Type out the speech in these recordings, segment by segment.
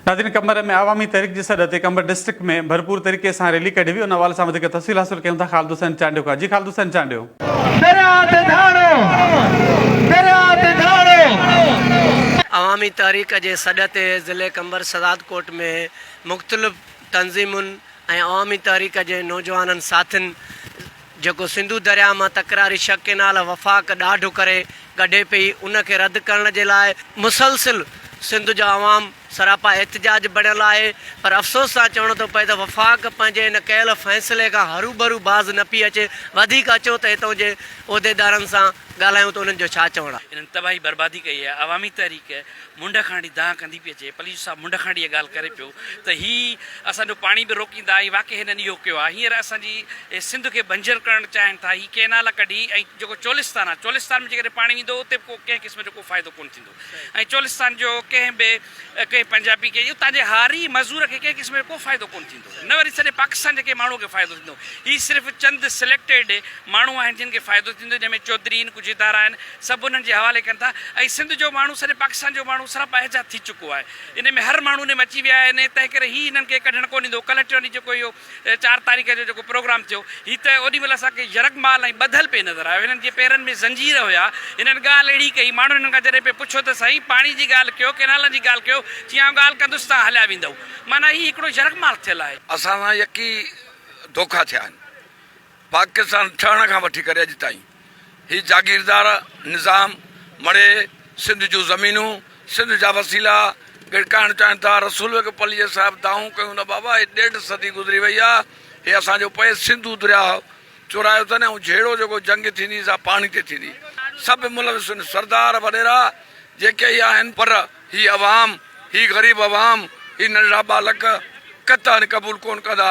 ناظرين قمبر ۾ عوامي تحريڪ جي سڏ تي قمبر ڊسٽرڪٽ ۾ ڀرپور طريقي سان ريلي ڪڍي وئي ان حوالي سان وڌيڪ تفصيل حاصل ڪيون ٿا خالد حسين چانڊيو کان جي خالد حسين چانڊيو. درياء تي ڌاڙو، درياء تي ڌاڙو. عوامي تحريڪ جي سڏ تي ضلعي قمبر شھدادڪوٽ ۾ مختلف تنظيمن ۽ عوامي تحريڪ جي نوجوانن ساٿين، جيڪو سنڌو درياهه مان تڪراري شق ڪينال وفاق ڏاڍ ڪري ڪڍي پئي ان کي رد ڪرڻ جي لاء مسلسل سنڌ جو عوام سراپا احتجاج بڻيل آهي پر افسوس سان چوڻو ٿو پئي ته وفاق پنهنجي ان ڪيل فيصلي کان هروڀرو باز نه پئي اچي وڌيڪ اچو ته هتان جي عهديدارن سان ڳالهايون ته انهن جو ڇا چوڻ آهي. انهن تباهي بربادي ڪئي آهي عوامي تحريڪ منڍ کانئڙي دانهن ڪندي پئي اچي. پليجو صاحب منڍ کانئڙي اها ڳالهه ڪري پيو ته هي اسان جو پاڻي به روڪيندا ۽ واقعي هنن اهو ڪيو آهي. هينئر اسان جي سنڌ کي بنجر ڪرڻ چاهين ٿا. هي ڪئنال ڪڍي ۽ جيڪو چولستان آهي، چولستان ۾ جيڪڏهن پاڻي ويندو اتي به ڪو ڪنهن قسم جو ڪو فائدو ڪونه ٿيندو ۽ چولستان جو ڪنهن به ڪنهن پنجابي کي اتان جي هاري مزور کي ڪنهن قسم جو ڪو فائدو ڪونه ٿيندو. نه وري سڄي پاڪستان جي ڪنهن ماڻهو کي فائدو ٿيندو. هي صرف چند سليڪٽيڊ ماڻهو آهن جن کي فائدو ٿيندو جنهن ۾ چوڌري آهن ڪجهه ادارا آهن سڀ انهن جي حوالي ڪن ٿا ۽ سنڌ جو ماڻهو سڄي پاڪستان جو ماڻهو سراب احجا ٿي چڪو آهي انهي ۾ هر ماڻهو انهي ۾ اچي ويا آهن تنهن ڪري هي انهن کي ڪڍڻ ڪونه ڏيندو ڪلهه ٽيوني جيڪو اهو چار تاريخ جو جيڪو پروگرام ٿيو هي ته اوڏي مهل اسان کي يرغمال ۽ ٻڌل پئي نظر آيو هنن جي پيرن ۾ زنجير هيا هنن ڳالهه اهڙي ڪئي ماڻهن هنن کان جڏهن پئي پڇيو ته سائين پاڻي جي ڳالهه ڪيو ڪئنالن جي ڳالهه ڪيو چيائون ڳالهه ڪندس تان هليا ويندؤ معنيٰ هي هڪڙو يرغمال ٿيل آهي. اسان سان يڪي ڌوڪا ٿيا آهن. پاڪستان ٺهڻ کان وٺي ڪري اڄ تائين هي جاگيردار نظام مڙهي سنڌ جون زمينون سنڌ جا وسيلا ڳڙڪائڻ چاهين ٿا. رسول بيگ پليجي صاحب دانهون ڪيون نه بابا هي ڏيڍ صدي گذري وئي آهي هي اسان جو پئي سنڌو درياهه چورايو اٿن ۽ جهيڙو جيڪو جنگ ٿيندي سا پاڻي تي ٿيندي. سڀ ملوث هن سردار وڏيرا جيڪي ئي آهن پر هي عوام هي غريب عوام هي ننڍڙا ٻالڪ قطعا قبول ڪون ڪندا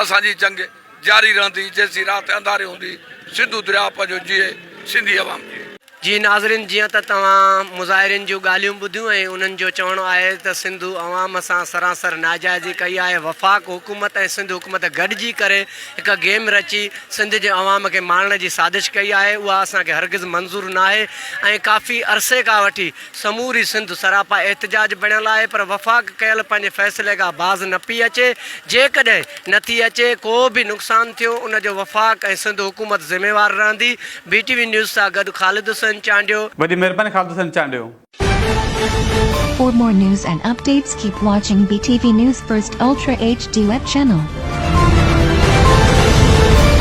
اسان جي جنگ جاري رهندي جيسين رات انڌاري هوندي سنڌو درياء پنهنجو جيئي سنڌي عوام جيئي. جي ناظرين جيئن ته توهان مظاهرين جون ڳالهيون ٻڌيون ۽ انهن جو چوڻ آهي ته سنڌو عوام سان سراسر ناجائزي ڪئي آهي وفاق حڪومت ۽ سنڌ حڪومت گڏجي ڪري هڪ گيم رچي سنڌ جي عوام کي مارڻ جي سازش ڪئي آهي اها اسان کي هرگز منظور ناهي ۽ ڪافي عرصي کان وٺي سموري سنڌ سراپا احتجاج بڻيل آهي پر وفاق ڪيل پنهنجي فيصلي کان باز نه پئي اچي، جيڪڏهن نه ٿي اچي ڪو به نقصان ٿيو ان جو وفاق ۽ سنڌ حڪومت ذميوار رهندي، بي ٽي وي نيوز سان گڏ خالد حسين چانڊيو. وڏي مهرباني Khalid Hussain Chandio. For more news and updates keep watching BTV News First Ultra HD web channel.